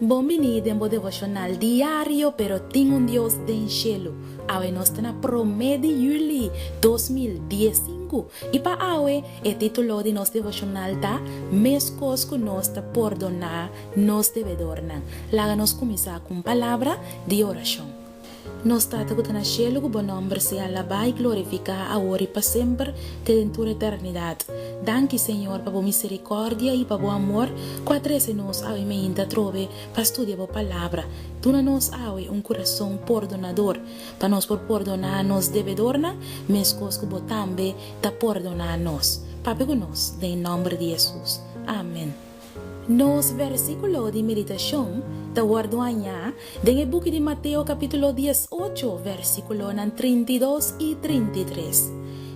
Bon bini den bo devocional diario pero tin un Dios den shelu. Awe nos ta na prome di Juli dos mil dies sinku i pa awe e titulo di nos devocional ta Meskos ku nos ta pordoná nos debedornan. Laga nos kuminsá ku un palabra di orashon. Nos Tata ku ta na shelu, ku bo nòmber sea alabá i glorifiká awor i pa semper, te den tur eternidat. Danki, Señor, pa bo miserikòrdia i pa bo amor ku a trese nos awe mainta atrobe pa studia bo Palabra. Duna nos awe un kurason pordonador, pa nos por pordoná nos debedornan, meskos ku bo tambe ta pordoná nos. Papia ku nos den nòmber di Hesus. Amen. Nos versíkulo di meditashon ta wòrdu hañá den e buki di Mateo kapítulo dies ocho, versíkulonan trinta i dos i trinta i tres.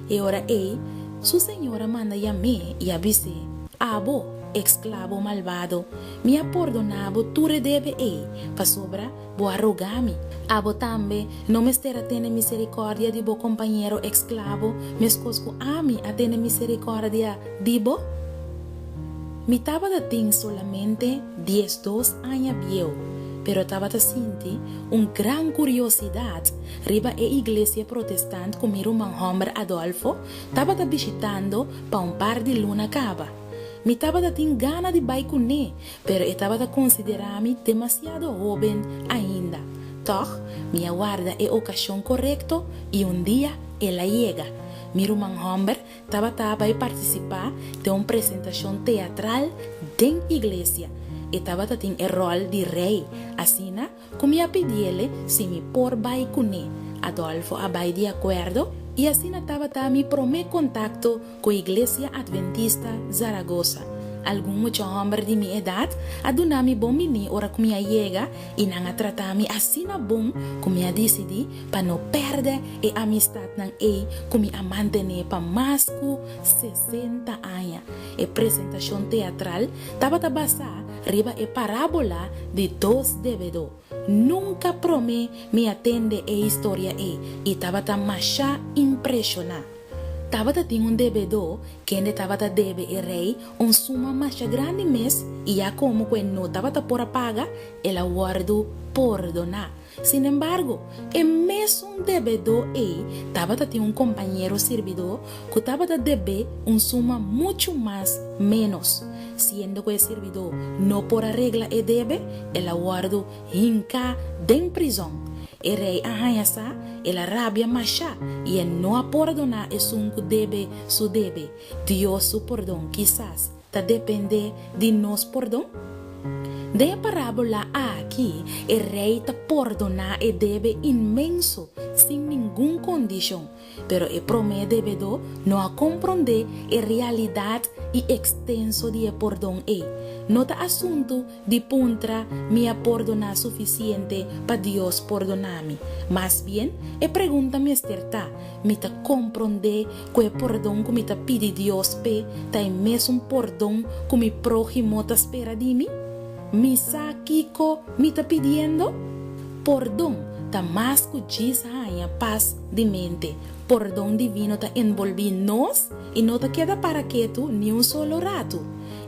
E ora ei, su señor a manda yam'é i a bis'é, Abo, e sklabo malbado, mi a pordoná bo tur e debe ei, pasobra Bo a roga mi. Abo tambe no mester a tene miserikòrdia di bo kompañero eksklavo, meskos ku ami a tene miserikòrdia di bo? Mi tabata tin solamente diesdos aña bieu, pero tabata sinti un gran kuriosidat riba e iglesia protestant ku mi ruman hòmber Adolfo tabata bishitando pa un par di luna kaba. Mi tabata tin gana di bai kuné Pero e tabata considerá mi demasiado hóben ainda. Tòg, mi a warda e ocasión corecto i un dia el a yega. Mi ruman homber tabata a bai participá den un presentacion teatral den iglesia. E tabata tin e ròl di rey, asina Cu mi a pidiele si mi por bay cune. Adolfo a bay di acuerdo y asina tabata mi prome contacto cu Iglesia Adventista Zaragoza. Algun mucha homber di mi edad a duna mi bon bini ora cu mi a yega y nan a trata mi asina bon cu mi a dicidi pa no perde e amistadnan ey cu mi a mantene pa mas cu sesenta aña. E presentacion teatral tabata basa Riba e parábola di dos debedó. Nunka promé mi a tende e historia ei i tabata mashá impreshoná. Tabata tin un debedó kende tabata debe e rei un suma mashá grandi mes i ya komo ku e no tabata por a paga, el a wòrdu pordoná. Sin embargo, e mesun debedó ei tabata tin un kompañero sirbidó ku tabata deb'é un suma muchu mas ménos. Siendo ku e sirbidó no por a regla e debe, el a wòrdu hinká den prizòn. E rei a haña sa, el a rabia mashá i e no a pordoná esun ku deb'é su debe, Dios su pordon kisas. ta dependé di nos pordon? Den e parábola akí, e rei ta pordoná e debe inmenso sin ningun kondishon, pero e promé debedó no a komprondé e realidat i ekstenso di e pordon ei. No ta asuntu Di puntra mi a pordoná sufisiente pa Dios pordoná mi. Mas bien, e pregunta mester ta, Mi ta komprondé ku e pordon ku mi ta pidi Dios p'e ta e mesun pordon ku mi próhimo ta spera di mi? Mi sa kiko mi ta pidiendo? Pordon ta mas ku djis haña pas di mente. Pordon divino ta enbolbí nos i no ta keda para ketu ni un solo ratu.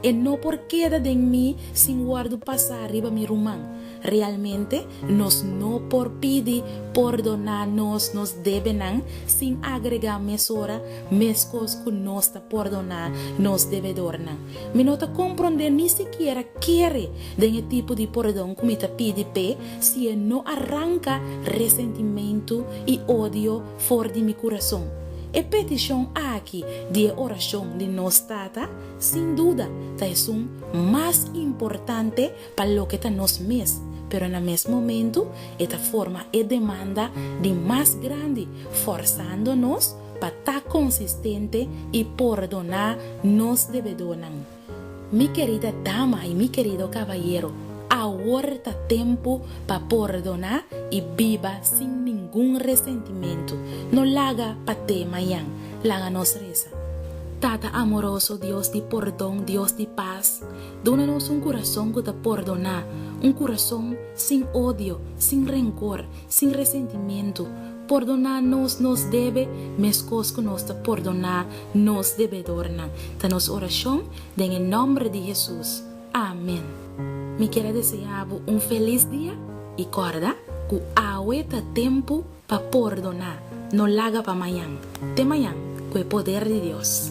E no por keda den mi sin wòrdu pasá riba mi ruman. Realmente, nos no por pidi pordoná nos nos debenan sin agregá mesora meskos ku nos ta pordoná nos debedornan. Mi no ta komprondé ni sikiera kere den e tipo di pordon ku mi ta pidi p'e si e no a ranka resentimentu i odio for di mi kurason. E petishon aki di e orashon di nos Tata sin duda ta esun mas importante pa loke ta nos mes, pero na mes momentu e ta forma e demanda di mas grandi, forsando nos pa ta konsistente i pordoná nos debedónan. Mi kerida dama i mi kerido kabayero, awor ta tempu pa pordoná i biba sin ningun resentimentu. No laga pa te mañan. Laga nos resa. Tata amoroso, Dios di pordon, Dios di pas, duna nos un kurason ku ta pordoná, un kurason sin odio, sin renkor, sin resentimentu. Pordoná nos nos debe meskos ku nos ta pordoná nos debedornan. Ta nos orashon den e nòmber di Hesus. Amen. Mi kier a deseá bo un felis dia i kòrda ku awe ta tempu pa pordoná, no laga pa mañan. Te mañan ku e poder di Dios.